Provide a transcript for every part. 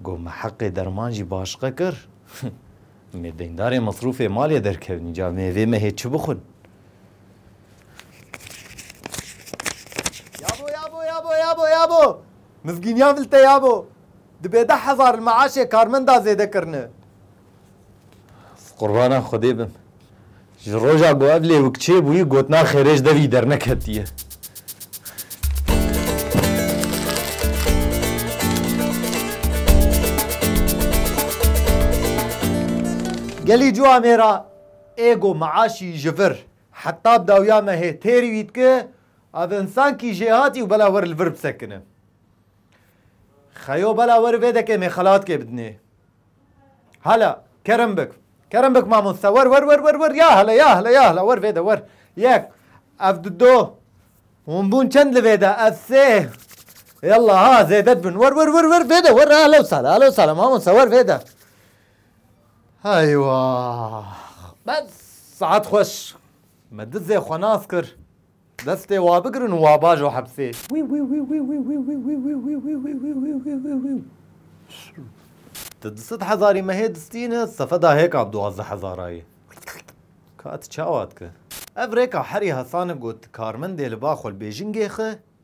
Got me heqê derman jî başiqe kir. Me deyndarê mesrûfê malê derkevin îca me vê mehê çi bixwin? Yabo yabo yabo yabo yabo! Mizgîniya vilte yabo! Dibe deh hezar li meaşê karmenda zêde kirine. Qurbana Xwedê bim. Ji roja ku ev lêwik çêbûyî gotina xêrê ji devî derneketiye. Gelî cu amê ra êgo miaşî ji vir heta dawiya me hê têrî wî dike ev insan kî jê hatî û bela wer li vir bisekine. Xeyo bela wer vê dekê mêxelatkê bidinê. Hala, kerem bik. Kerem bik mamoste. Wer wer wer wer wer ya hala ya hala ya hala wer vê de wer. Yek, ev di do. Hûn bûn çend li vê de ev sê. Yallah ha zêde dibin. Wer wer wer wer vê de wer hala wisa hala hala wisa hala mamoste wer vê de. Eywa. Bes saet xweş. Me dizê xwe nas kir. Destê wa bigirin û wa bajo hepsê. Ti di sed hezarî me hê distîne sefeda hêkan duwazdeh hezarayê. Ka ti çawa dike? Ev rêka herî hesan e got karmendê li ba xwelbêjingê xwe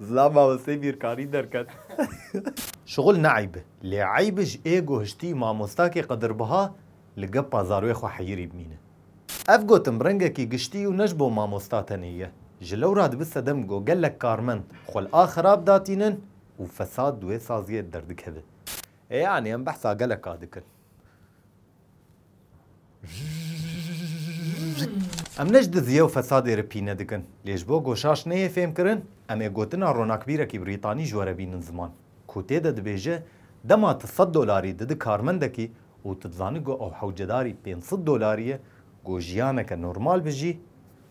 Zilam mamosteyê bîrkarî derket. Şixul ne eyb e, lê eyb e ji êgo hiştî mamostakê qedrbiha li gepa zarwê xwe heyirî bimîne. Ev gotin rengekî giştî û ne ji bo mamosta tenê ye. Ji lewra dibi sedem go gelek karmend xwe li a xerab da tînin û fesad di wê saziyê de derdikeve. Yanî em behsa gelek a dikin. Em ne ji diziyê û fesadê re pîne dikin. Lê ji bo goşaş neyê fêmkirin, em ê gotina ronakbîrekî Brîtanî ji we re bînin ziman, ku tê de dibêje, Dema tu sed dolarî didî karmendekî û tu dizanî ku ew hewcedarî pênc sed dolarî ye, ku jiyaneke normal bijî,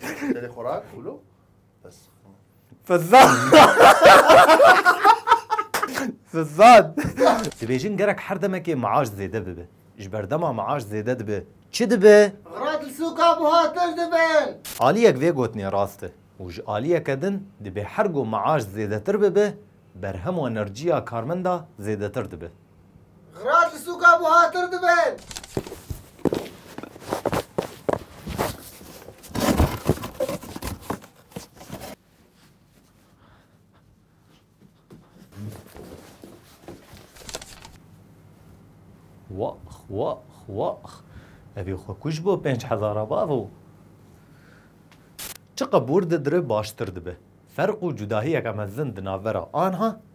Tele xorak ulo. Bes. Fizan. Fizan. Dibêjin gerek her demekê maaş zêde bibe. Ji berdema maaş zêde dibe. Çi dibe? Xira di sûka buha tij dibin. Aliyek vê gotinê rast e û ji aliyeke din dibê her go maaş zêdetir bibe, berhem û enerjiya karmenda zêdetir dibe. Xrat li sûka buhatir dibin. Wax wax wax. Evî xwe kuj bo pênc hezara bavo. Çi qebûr didri baştir dibe. Ferq û cudahiyeke mezin di navbera anha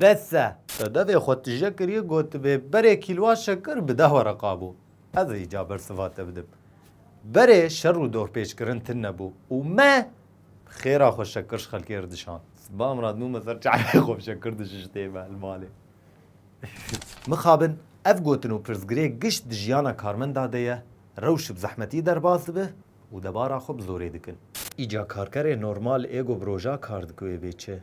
Bes e! Te devê xwe tije kiriye gotibê berê kîlwa şekir bide xwe re qabo. Ez ê îca bersiva te bidim. Berê şer û dorpêçkirin tin nebû û me bi xêra xwe şekir ji xelkê re dişand. Sibam re dibûme ser çavê xwe bi şekir dişiştê me li malê. Mixabin ev gotin û pirsgirê gişt di jiyana karmenda de ye, rewş bi zehmetî derbas dibe û debara xwe bi zorê dikin. Îca karkerê normal ê ku bi roja kar dike wê bê çi?